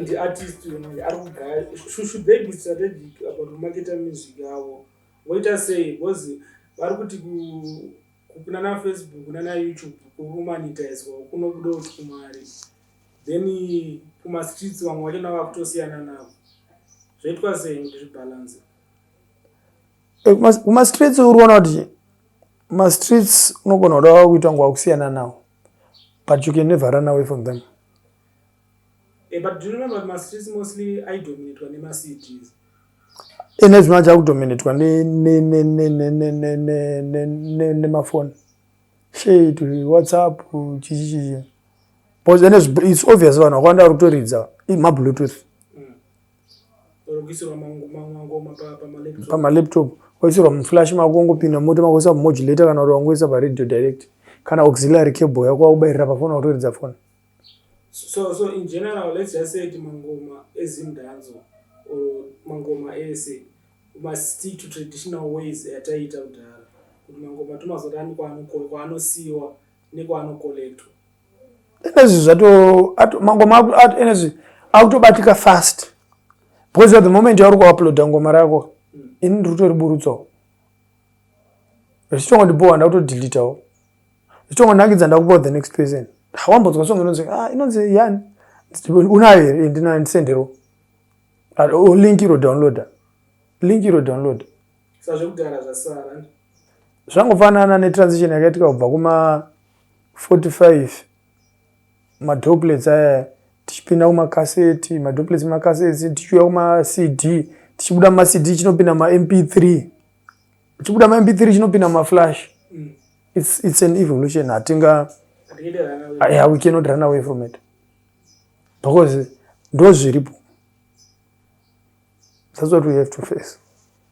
ndi artist uyo manje ari kugaya Sh- should they be strategic about kumaketa music yavo voita sei because vari kuti ku- ku- kunana facebook nana youtube kukumanitaizwa kunobuda kuti kumari then kumastreets vamwe vacho navo vakutosiyana navo zvoitwa sei kuti zvibhalanse Eh, kuma- kumastreets uri kuona kuti mastreets unogona kuda kuita nguva kusiyana nawo but you can never run away from them Eh, but do you remember kuti mastreets mostly aidominatwa nemacds ine zvino acha kudominatwa nemafoni shay to whatsapp chichi chichi bcause ene its obvious vanhu vakawanda vari kutoridza mabluetooth pamalaptop oisirwa muflash mako ongopinda moto mako oisa mumodulator kana kuti wangoisa paradio direct kana auxiliary cable yako wakubairira pafoni wakutoridza foni So, so in general, let's just say mangoma ezim danzo or mangoma ese must stick to traditional ways ataiita kudhara kuti mangoma tomazoda ani kwaanosiiwa nekwaanokolektwa enezvi zvato mangoma enezvi akutobatika fast because at the moment yauri kuuploada ngoma rako hmm. ini ndiri kutoriburutsawo zvichitongo ndibhowa ndakutodelitawo zvichitongo ndangidza ndakupawo the next person wambodzwa song inonzi ah, inonzi yani unayo here ndinayo ndisendero ah, oh, link iro downloader link iro downloader zvangofanana netransition yakaitika kubva kuma 45 madroplets aya tichipinda kumakaseti madroplets makaseti tichiuya kumacd tichibuda mumacd chinopinda mamp3 chibuda mamp3 chinopinda mumaflash mm. it's, it's an evolution hatinga yeah, we cannot run away from it because ndo zviripo that's what we have to face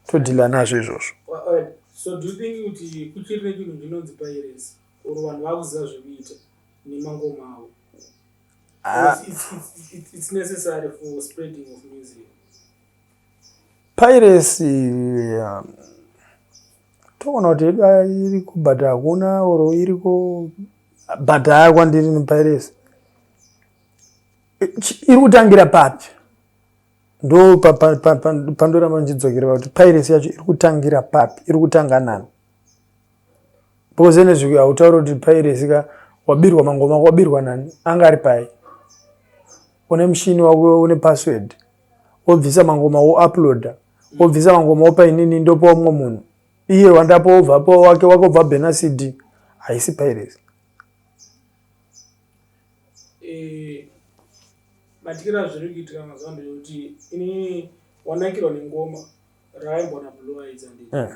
todhila nazvo izvozvo so do you think kuti kuchiri nechinhu chinonzi piracy or vanhu vakuziva zvekuita nemangoma avo ah. it's necessary for spreading of music piracy um, toona kuti yedu iriko but hakuna or iriko but haya kwandiri nepiracy iri kutangira papi ndo pandoramba ndichidzokera pakuti piracy yacho iri kutangira papi iri kutanga nani Pose nezviki hautauri kuti pairesi ka wabirwa mangoma ako wabirwa nani anga ari pai une mushini wako une password wobvisa mangoma wouploada wobvisa mangoma wopa inini ndopa umwe munhu iye wandapa wobva pa wake wake wobva bhena cd haisi pairesi eh, matikira zviri kuitika mazuva ndo kuti inini wanakirwa nengoma raaimbona blue aidzandii eh.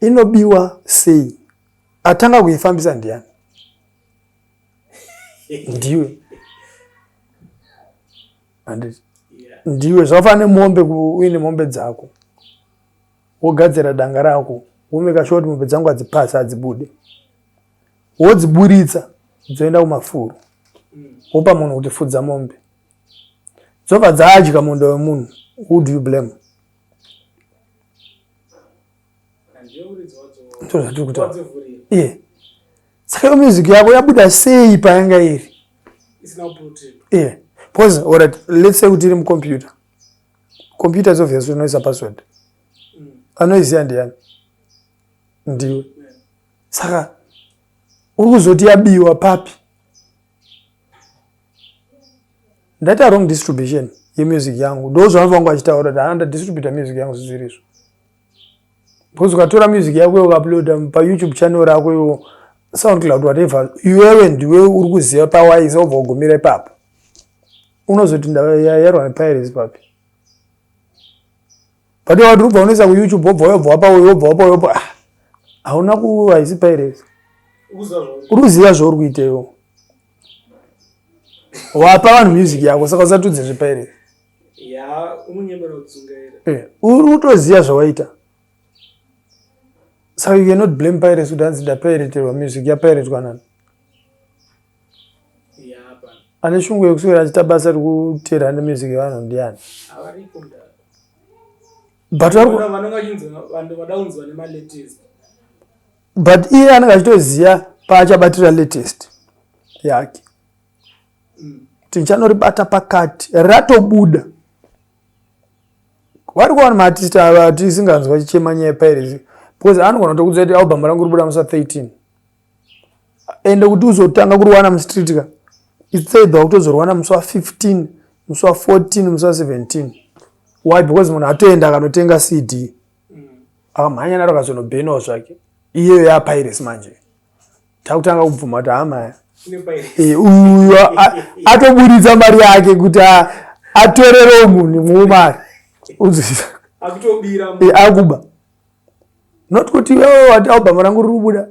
inobiwa sei atanga kuifambisa ndiani ndiwe anditi ndiwe zvafana nemombe uine mombe dzako wogadzira danga rako womeka sure kuti mombe dzangu hadzipasi hadzibude wodziburitsa dzoenda kumafuro wopa munhu kuti fudza mombe dzobva dzaadya munda wemunhu who do you blame ndozvatiri kutaura iye saka iyo music yako yabuda sei payanga iri iye bcause orit lets say kuti iri mucomputer computer is obvious unoisa password mm. anoiziva ndiyani ndiwe saka uri kuzoti yabiwa papi ndaita wrong distribution yemusic yangu ndo zvavanhu vangu vachitaura kuti handa distributa music yangu zizvirizvo because ukatora music yako iwe ukauploada payoutube channel rako iwe soundcloud whatever iwewe ndiwe uri kuziva pawaisa wobva wagumira ipapo unozoti ndayarwa nepirates papi but iwe wati ubva unoisa kuyoutube wobva uyobva wapa uyu wobva wapa uyobva ah, hauna ku haisi pairesi uri kuziva zvauri kuita iwo wapa vanhu music yako saka usatudze zvepairesi eh, uri kutoziva zvawaita saka you cannot blame pairesi kuti hanzi ndapaireterwa music yapairetwa nani ane shungu yekuswera achiita basa rekuteera ne music yevanhu ndiani but iye anenge achitoziva paachabatira latest yake mm. tichanoribata pakati ratobuda wari kuwana maartist ava tisinganzwa chichema nyaya pairezi because anogona kutokudzira kuti album rangu ribuda musa 13 ende kuti uzotanga kurwana mustreet ka itseidha wakutozorwana musi wa 15 musi wa 14 musi wa 17 why because munhu atoenda akanotenga cd akamhanya naro kazonobhenawo zvake iyeyo yapiracy manje takutanga kubvuma kuti hamaya eh, uyu atoburitsa mari yake kuti atorerewo munhu mumari uzvisa akuba not kuti iwewe wati album rangu riri kubuda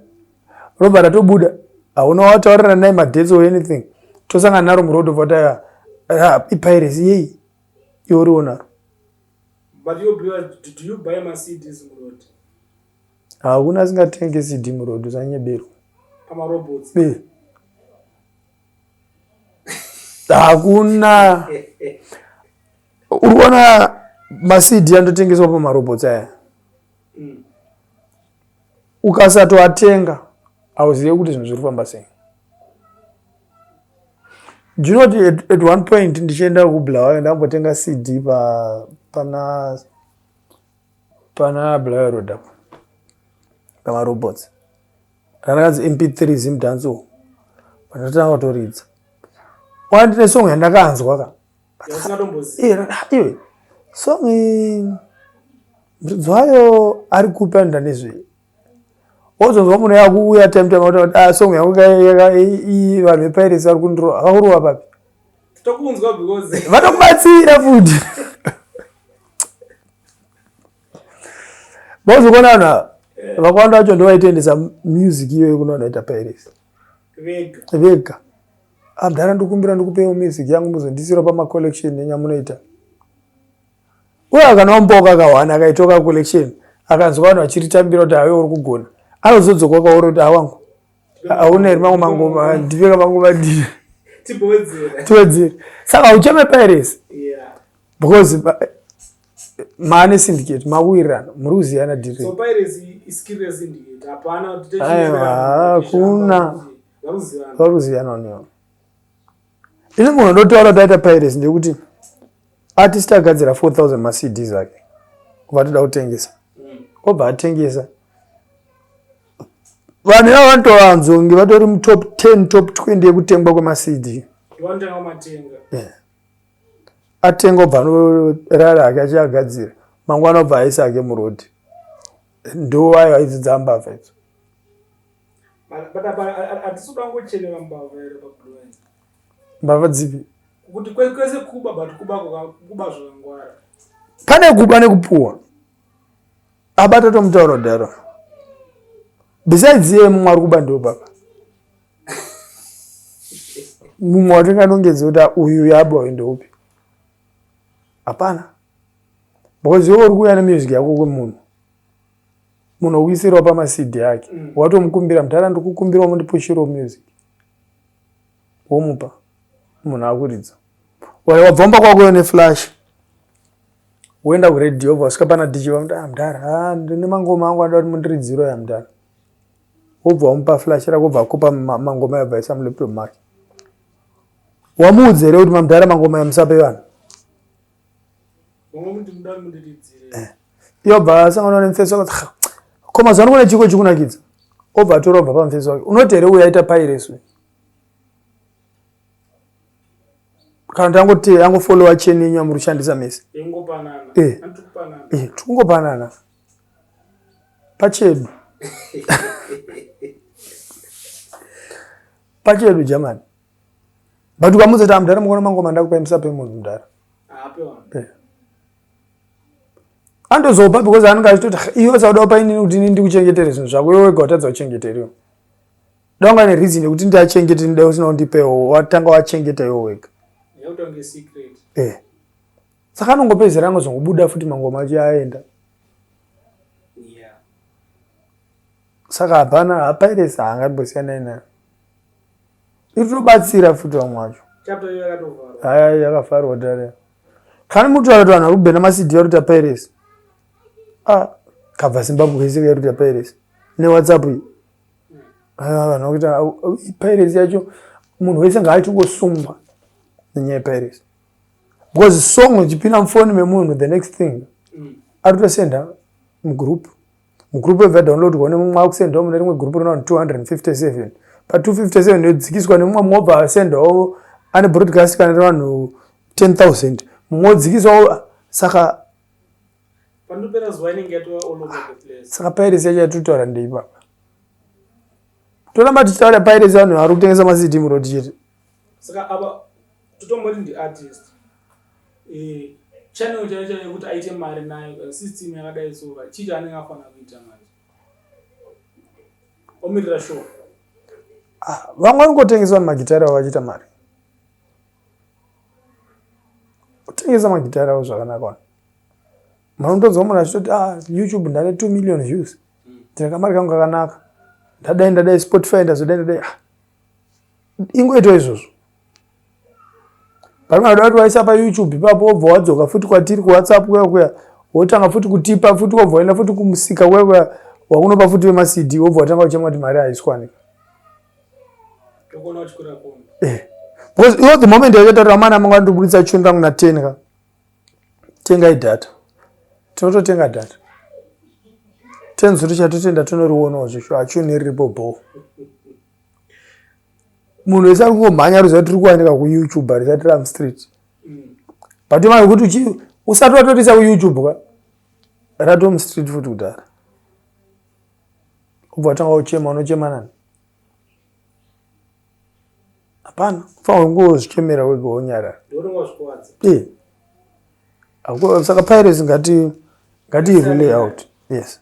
robva ratobuda hauna wataurira naye madates or anything tosangana naro muroad of wataya ah, ipiracy yeyi iwe uriwo naro hakuna asingatenge cd muroad usanyeberwa hakuna uri kuona masidi anototengeswa pamarobhots aya mm. ukasatoatenga hauzive kuti zvinhu zviri kufamba sei ndinoti at one point ndichienda kubulawayo ndambotenga cd pana pana bulawayo road apo pamarobots randakanzi mp three zimdanso pandatanga kutoridza wandine song yandakanzwa ka iwe song muridzi wayo ari kupi anoita nezvei wozonzwa munhu yakuuya time time kuti ah, song yangu vanhu vepirates vari kundirova havakurova papi tokunzwa because vanokubatsira futi bozokona vanhu ava eh. vakawanda vacho ndovaitoendesa music iyoyo kuno vanoita pairesi vega vega Ah mdhara ndikumbira ndikupewo music yangu muzondisira pama collection nenya munoita. Uye akanaombawo kakahwana akaitoka collection akanzwa vanhu vachiritambira kuti awe uri kugona anozodzoka kwauri kuti awangu hauna here mamwe mangoma ndipeka mangoma ndiye tiwedzere saka haucheme piracy because maane syndicate mawirirana muri kuziyana dirhakuna varuzivana neo ini munhu ndotaura taita piracy ndekuti artist agadzira 4000 macd zvake vatoda kutengesa mm. obva atengesa vanhu ivavo vanotovanzwa kunge vatori mutop 10 top 20 yekutengwa kwemacd atenga obva anorara ake achiagadzira mangwana obva aisa ake murodi ndowayo aidzidzambavha idzo but apa hatisi kuda kungochenera mbavha here pablowa mbavha dzipi kuti kwese kuba but kuba kuba zvakangwara pane kuba nekupuwa abata tomutaura kudaro besides iye mumwe ari kuba ndo baba mumwe watinganongedza kuti uyu yaba uyu ndoupi hapana because iwe uri kuuya nemusic yako kwemunhu munowisirwa pamasidi ake mm. watomukumbira mudhara ndikukumbirawo mundipushirawo music womupa munhu akuridza waya wabvomba kwakuyo neflash woenda kuredio obva wasvika pana dj vamuti ah, mudhara ah, ndine mangoma angu anoda kuti mundiridziro ya mudhara wobva wamupa flash rako obva akupa mangoma yabva isa mulaptop make wamuudzi here kuti mamudhara mangoma yamusape vanhu Eh. yobva asangana nemufesi wake ko mazuva ano kune chiko chikunakidza obva atora obva pamufesi wake unoti here uyaita pairesu kana kuti angoti angofollowa cheni yenyu yamuri kushandisa mese eh. eh, tikungopanana pachedu pachedu jamani but ukamudza kuti amudhara ah, mukona mangoma ndakupai musape munhu mudhara andozopa because anenge achitoti iwe sauda upa inini kuti ini ndikuchengetere zvinhu zvako iwe wega watadza kuchengeteriwo danga ne reason yekuti ndiachengete ndida usina kundipewo watanga wachengeta iwe wega eh. saka anongopedzera angozongobuda futi mangoma acho aenda saka hapana hapairesi haangambosiyana inayo itobatsira futi vamwe wacho haya yakavharwa tare kani muti vakati vanhu vari kubhena masidi yaruta piracy ah, kabva zimbabwe yese yaruta piracy newhatsapp iyi ah, vanhu vakuita piracy yacho munhu wese ngaachingosungwa nenyaya yepiracy because song ichipinda mufoni memunhu the next thing mm. arutosenda mugroup Mugroup yobva yadownloadwa nemumwe wakusendwa mune rimwe group rina 257 pa 257 yodzikiswa nemumwe mumwe obva asendwawo ane broadcast kana revanhu 10000 mumwe odzikiswawo saka saka pirates yacho yatitotaura ndei papa toramba tichitaura pirates vanhu vari kutengesa macd muroti chete saka ava totomboti ndiartist eh, channel chaiyo chaiyo yekuti aite mari nayo eh, system yakadai so ka chii chaanenge afanira kuita manje omirira show ah, vamwe vanongotengeswa nemagitari avo vachiita mari kutengesa magitari avo zvakanaka wani munotonzwa munhu achitoti ah, youtube ndane two million views hmm. ndine kamari kangu kakanaka ndadai ndadai spotify ndazodai ndadai ah, ingoitwa izvozvo pamwe vanoda kuti waisa payoutube ipapo wobva wadzoka futi kwatiri kuwhatsapp kuya kuya wotanga futi kutipa futi wobva waenda futi kumusika kuya kuya wakunopa futi vemacd wobva watanga uchema kuti mari haiswanika eh. because iwo the moment yachataura mana manga ndibuditsa chuni rangu naten ka tengai data tinototenga data ten zuri chatotenda tonoriwonawo zvesho hachuni riripo bhoo munhu wese ari kungomhanya ruziva tiri kuwanika kuyoutube harisati ram street but imana yokuti usati watorisa kuyoutube ka ratom street futi kudhara ubva watanga uchema unochema nani hapana fanira kungozvichemera wega wonyarara eh. saka piracy ngati ngati relay out yes